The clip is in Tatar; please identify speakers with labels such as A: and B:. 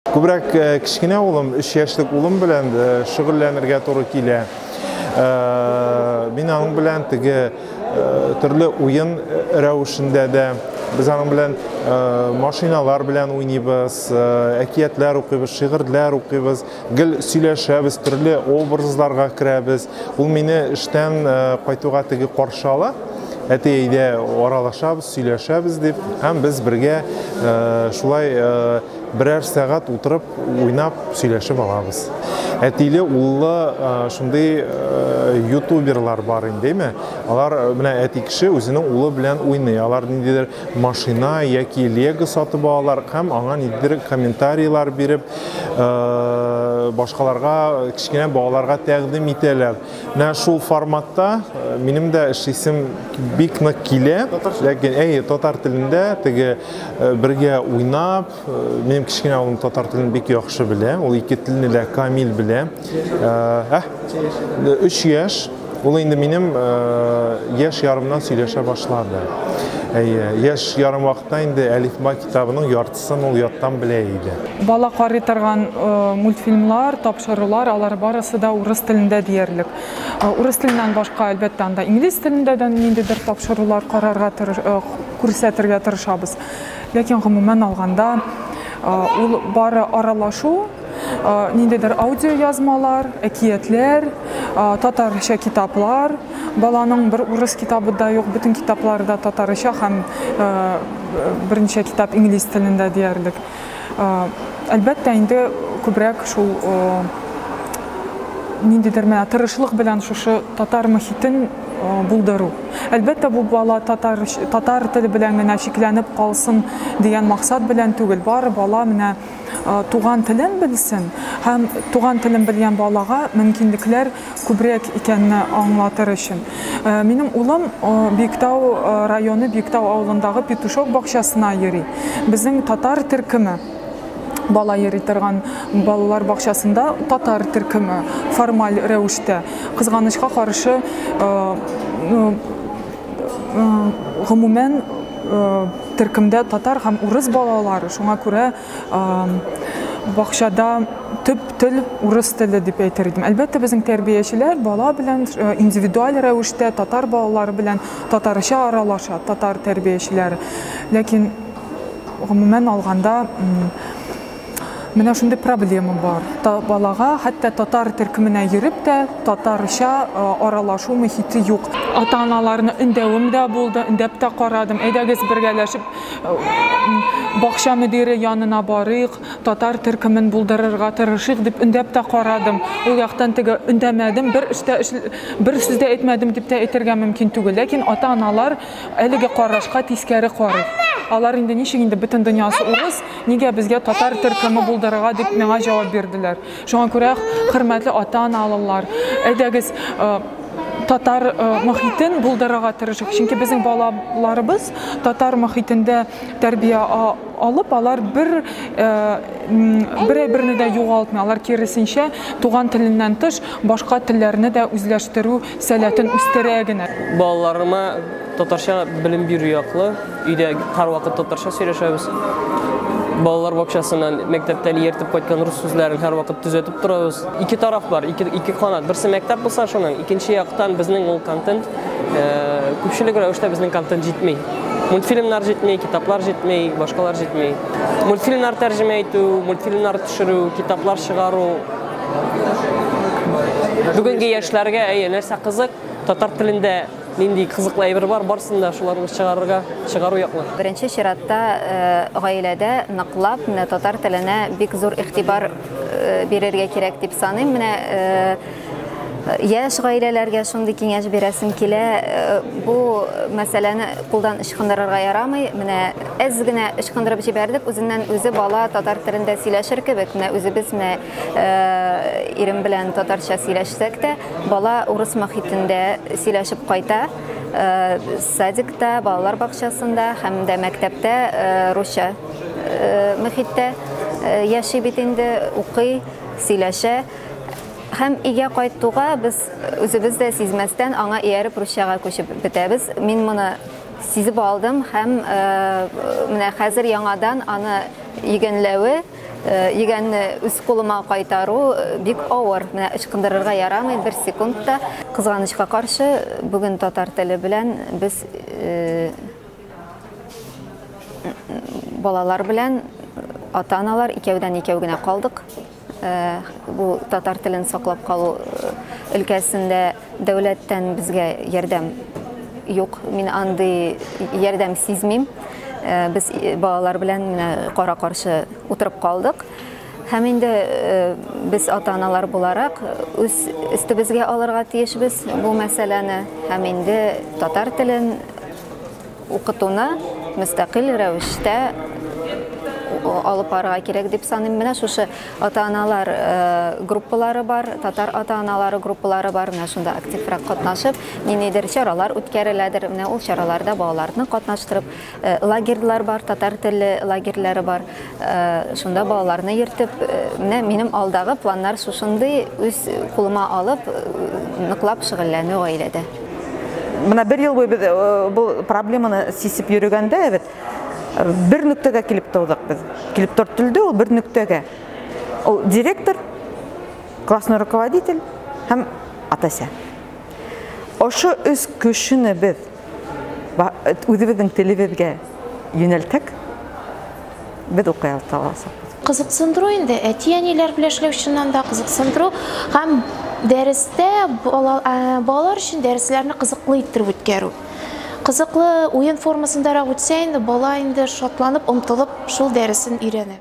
A: Күбрәк э, кечкенә улым, 3 яшьлек улым белән э, шөгыльләнергә туры килә. Э, мин аның белән теге төрле уен рәвешендә дә без аның белән машиналар белән уйныйбыз, әкиятләр укыйбыз, шигырьләр укыйбыз, гел сөйләшәбез, төрле образларга керәбез. Ул мине эштән кайтуга теге каршы ала әти әйдә аралашабыз сөйләшәбез дип һәм без бергә шулай Берәр сәгать утырып, уйнап, сөйләшеп алабыз. Әтиле, уллы шундый ютуберлар бар индеме? Алар менә әти кеше үзенең улы белән уйный. Алар ниндидер машина яки лего сатып алалар һәм аңа ниндидер комментарийлар биреп, башкаларга, кечкенә балаларга тәкъдим итәләр. Менә шул форматта минем дә эшлисем бик нык килә. Ләкин әй татар телендә теге Э, бергә уйнап э, минем кечкенә улым татар телен бик яхшы белә ул ике телне дә камил белә э, өч яшь ул инде минем яшь ярымнан сөйләшә башлады әйе яшь ярым вакытта инде әлифба китабының яртысын ул яттан белә иде бала карый торган
B: мультфильмлар тапшырулар алар барысы да урыс телендә диярлек урыс теленнән башка әлбәттә анда инглиз телендә дә ниндидер тапшырулар карарга күрсәтергә тырышабыз. Ләкин гомумән алганда, ул бары аралашу, ниндидер аудио язмалар, әкиятләр, татарча китаплар, баланың бер урыс китабы да юк, бөтен китаплары да татарча һәм берничә китап инглиз телендә диярлек. Әлбәттә, инде күбрәк шул ниндидер менә тырышлык белән шушы татар мөхитен булдыру. Әлбәттә, бу бала татар, татар теле белән генә чикләнеп калсын дигән максат белән түгел. Бары бала менә туган телен белсен һәм туган телен белгән балага мөмкинлекләр күбрәк икәнне аңлатыр өчен. Минем улым Биектау районы Биектау авылындагы Петушок бакчасына йөри. Безнең татар төркеме бала йөри торган балалар бакчасында татар төркеме формаль рәвештә кызганычка каршы гомумән төркемдә татар һәм урыс балалары, шуңа күрә бакчада төп тел урыс теле дип әйтер идем әлбәттә безнең тәрбиячеләр бала белән э, индивидуаль рәвештә татар балалары белән татарча аралаша татар тәрбиячеләре ләкин гомумән алганда менә шундый проблема бар Та, балага хәтта татар төркеменә йөреп тә татарча э, аралашу мөхите юк ата аналарны өндәвем дә булды өндәп тә карадым әйдәгез бергәләшеп бакча мөдире янына барыйк, татар төркемен булдырырга тырышыйк дип өндәп тә карадым. Ул яктан теге өндәмәдем, бер эштә бер сүз дә әйтмәдем дип тә әйтергә мөмкин түгел. Ләкин ата-аналар әлеге карашка тискәре карый. Алар инде ничек инде бөтен дөньясы урыс, нигә безгә татар төркеме булдырырга дип миңа җавап бирделәр. Шуңа күрә, хөрмәтле ата-аналылар, әйдәгез, татар э, мохитен булдырырга тырышыйк чөнки безнең балаларыбыз татар мохитендә тәрбия алып алар бер э, бере берне дә югалтмый алар киресенчә туган теленнән тыш башка телләрне дә үзләштерү Сәләтен үстерә генә. Балаларыма
C: татарча белем бирү яклы. Өйдә һәрвакыт татарча сөйләшәбез. Балалар бакчасыннан, мәктәптән ияртеп кайткан рус сүзләрен һәрвакыт төзәтеп торабыз. Ике тараф бар, ике, ике канат. Берсе мәктәп булса шуның, икенче яктан безнең ул контент, э, күпчелек рәвештә безнең контент җитми. Мультфильмнар җитми, китаплар җитми, башкалар җитми. Мультфильмнар тәрҗемә итү, мультфильмнар төшерү, китаплар чыгару, Бүгенге яшьләргә әйе, нәрсә кызык? Татар телендә нинди кызыклы әйбер бар, барсын да шуларны чыгарырга, чыгару яклы. Беренче чиратта
D: э, гаиләдә ныклап менә татар теленә бик зур игътибар э, бирергә кирәк дип саныйм. Менә э, яшь гаиләләргә шундый киңәш бирәсем килә. Бу мәсьәләне кулдан ычкындырырга ярамый. Менә Әз генә ычкындырып җибәрдек, үзеннән-үзе бала татар телендә сөйләшер кебек. Менә үзебез менә ирем белән татарча сөйләшсәк тә, бала урыс мохитендә сөйләшеп кайта. Садикта, балалар бакчасында һәм дә мәктәптә русча мохиттә яши бит инде, укый, сөйләшә. Һәм өйгә кайтуга без үзебез дә сизмәстән аңа ияреп русчага күчеп бетәбез. Мин моны Сизеп алдым һәм менә хәзер яңадан аны игәнләве, игәнне үз кулыма кайтару бик авыр. Менә ычкындырырга ярамый бер секунд та. Кызганычка каршы, бүген татар теле белән без балалар белән ата-аналар икәүдән-икәү генә калдык. Бу татар телен саклап калу өлкәсендә дәүләттән безгә ярдәм юк. Мин андый ярдәм сизмим. Без балалар белән менә кара-каршы утырып калдык. Һәм инде без ата-аналар буларак үз өстебезгә алырга тиешбез бу мәсьәләне һәм инде татар телен Укытуны мөстәкыйль рәвештә алып барырга кирәк дип саныйм. Менә шушы ата-аналар э, группалары бар, татар ата-аналары группалары бар. Менә шунда активрак катнашып, ниндидер чаралар үткәреләдер. Менә ул чараларда балаларны катнаштырып, э, лагерьлар бар, татар теле лагерьләре бар. Э, шунда балаларны ертып э, менә минем алдагы планнар шушындый үз кулыма алып э, ныклап шөгыльләнү гаиләдә менә
E: бер ел буе без бұл проблеманы сисеп йөрегәндә бит бер нүктәгә килеп тудык без килеп төртелде ул бер нүктәгә ул директор классный руководитель һәм атася Ошо үз көшене без үзебезнең телебезгә юнәлтәк, без укый аласак. Кызыксындыру
F: инде, әти-әниләр белән эшләү чыннан да кызыксындыру һәм дәрестә балалар өчен дәресләрне кызыклы иттереп үткәрү. Кызыклы уен формасындарак үтсә инде, бала инде шатланып, омтылып шул дәресен өйрәнә.